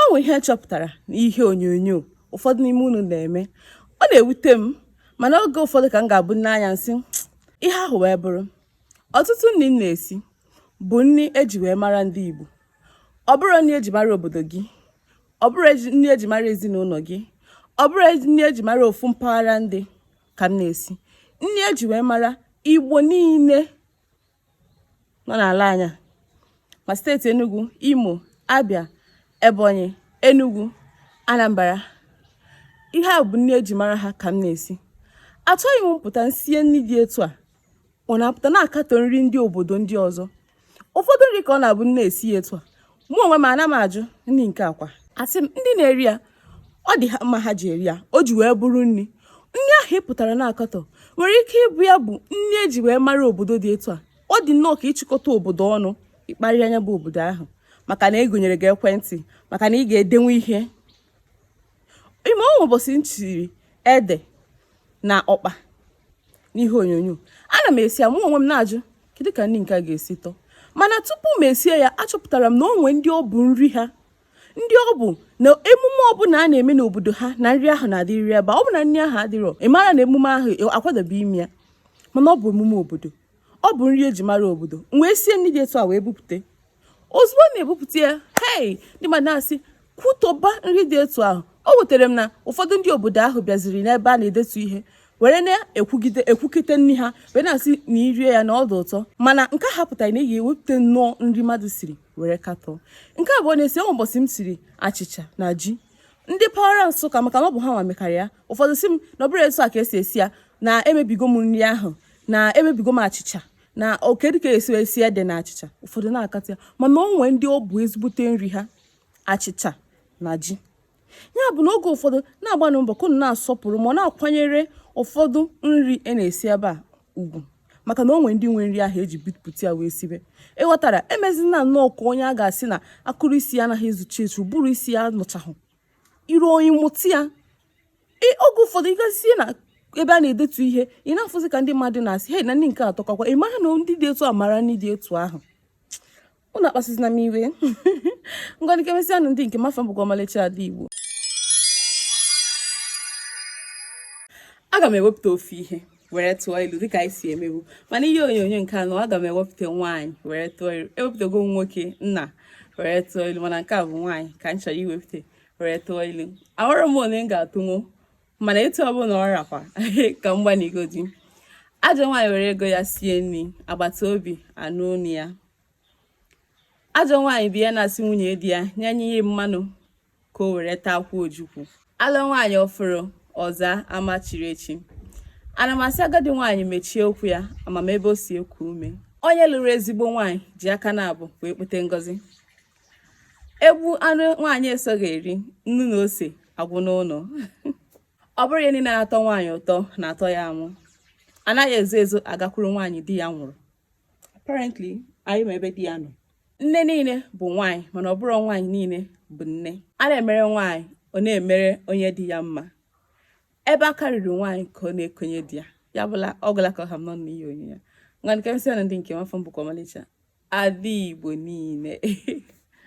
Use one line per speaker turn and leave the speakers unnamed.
o nwe ihe chọpụtara n'ihe onyonyo ụfọdụ n'ime unu na-eme ọ na-ewute m mana oge ụfọdụ ka m ga-abụ n'anya nsị ihe ahụ wee bụrụ ọtụtụ nri m na-esi bụ nri eji wee mara ndị Igbo ọ bụrọ nri eji mara obodo gị ọ bụrọ nri eji mara ezinụlọ gị ọ bụrọ nri eji mara ofu mpaghara ndị ka m na-esi nri eji wee mara Igbo niile nọ n'ala anyị a ma state Enugu Imo Abia Ebonyi Enugu Anambra ihe a bụ nri eji mara ha ka m na-esi achọghị m m pụta m sie nri dị etu a unu apụta na-akatọ nri ndị obodo ndị ọzọ ụfọdụ nri ka ọ na-abụ m na-esi ya etu a mụ onwe m ana m ajụ nri nke a kwa asị m ndị na-eri ya ọ dị ha mma ha ji eri ya o ji wee bụrụ nri nri ahụ ị pụtara na-akatọ nwere ike ịbụ ya bụ nri eji wee mara obodo dị etu a ọ dị nnọọ ka ị chịkọta obodo ọnụ ị kparịa nya bụ obodo ahụ maka na egonyere gị ekwentị maka na ị ga-edenwu ihe ị ma o nwe ụbọchị m siri ede na ọkpa n'ihe onyonyo ana m esi ya mụ onwe m na-ajụ kedu ka nri nke a ga-esi tọọ mana tupu m esie ya achọpụtara m na o nwe ndị ọ bụ nri ha ndị ọ bụ na emume ọbụla a na-eme n'obodo ha na nri ahụ na-adịrịrị ebe ọ bụ na nri ahụ adịrọ ị mara na emume ahụ akwadobe ime ya mana ọ bụ emume obodo ọ bụ nri eji mara obodo m wee sie nri dị etu a wee bupụta ozugbo m na-ebupụta ya hei ndị mmadụ na-asị kwutọba nri dị etu ahụ o wutara m na ụfọdụ ndị obodo ahụ bịaziri n'ebe a na-edetu ihe were na-ekwugide ekwukite nri ha wee na-asị na irie ya na ọ dị ụtọ mana nke ahụ apụtarọ na ị ya-ewepụta nnọọ nri mmadụ siri were katọọ nke abụọ na-esi o nwe ụbọchị m siri achịcha na ji ndị mpaghara Nsụka maka na ọ bụ ha nwa mekarị ya ụfọdụ sị m na ọ bụrọ etu a ka esi esi ya na emebigo m nri ahụ na emebigo m achịcha na ọ kedu ka esi esi ede na achịcha ụfọdụ na-akatọ ya mana o nwe ndị ọ bụ ezigbote nri ha achịcha na ji ya bụ na oge ụfọdụ na-agbanụ mbọ ka na-asọpụrụ ma na-akwanyere ụfọdụ nri a na-esi ebe a ugwu maka na o nwe ndị nwe nri ahụ eji bupụta ya wee sibe ịghọtara emezina nnọọ ka onye a ga-asị na akụrụ isi ya anaghị ezuchi ezu ụbụrụ isi ya anọchahụ iru onye mụta ya oge ụfọdụ ị gazie na ebe a na-edetu ihe ị na-afụzi ka ndị mmadụ na-asị hei na nri nke a atọkakwa ị mara na ndị dị etu a mara nri dị etu ahụ unu akpasịzina m iwe ngwa ka e mesịa nụ ndị nke m afa m bụkwa ọmalịcha ada igbo aga m ewepụta ofu ihe were tụọ ilu dịka anyị si emebu mana ihe onyonyo nke anọ aga m ewepụta nwaanyị were tụọ ilu ewepụtago m nwoke nna were tụọ ilu mana nke a bụ nwaanyị ka m chọrọ iwepụta were tụọ ilu amarọ m ole m ga-atụnwu mana etu ọbụla ọ rakwa ka m gbanịgodi ajọ nwaanyị were ego ya sie nri agbata obi anụ onu ya ajọ nwaanyị bụ ya na-asị nwunye di ya nyenye ya mmanụ ka o were taa akwụ ojukwu alụọ nwaanyị ọfụrụ ọ zaa ama chiri echi ana m asị agadi nwaanyị mechie ụkwụ ya ama m ebe o si eku ume onye lụrụ ezigbo nwaanyị ji aka naabọ wee kpote ngọzi egbuo anụ nwaanyị esoghị eri nnu na ose agwụ n'ụlọ ọ bụrọ ihe niile na-atọ nwaanyị ụtọ na-atọ ya amụ anaghị ezo ezo agakwuru nwaanyị di ya nwụrụ apparently anyị ma ebe di ya nọ nne niile bụ nwaanyị mana ọ bụrọ nwaanyị niile bụ nne a na-emere nwaanyị ọ na-emere onye dị ya mma ebe aka ruru nwaanyị ka ọ na-ekonye di ya ya bụ na ọ gwụla ka ọ ha m n'ọnụ n'ihe onyonyo nwa nke m sị unu ndị nke m afa m bụkwa ọmalịcha ada igbo niile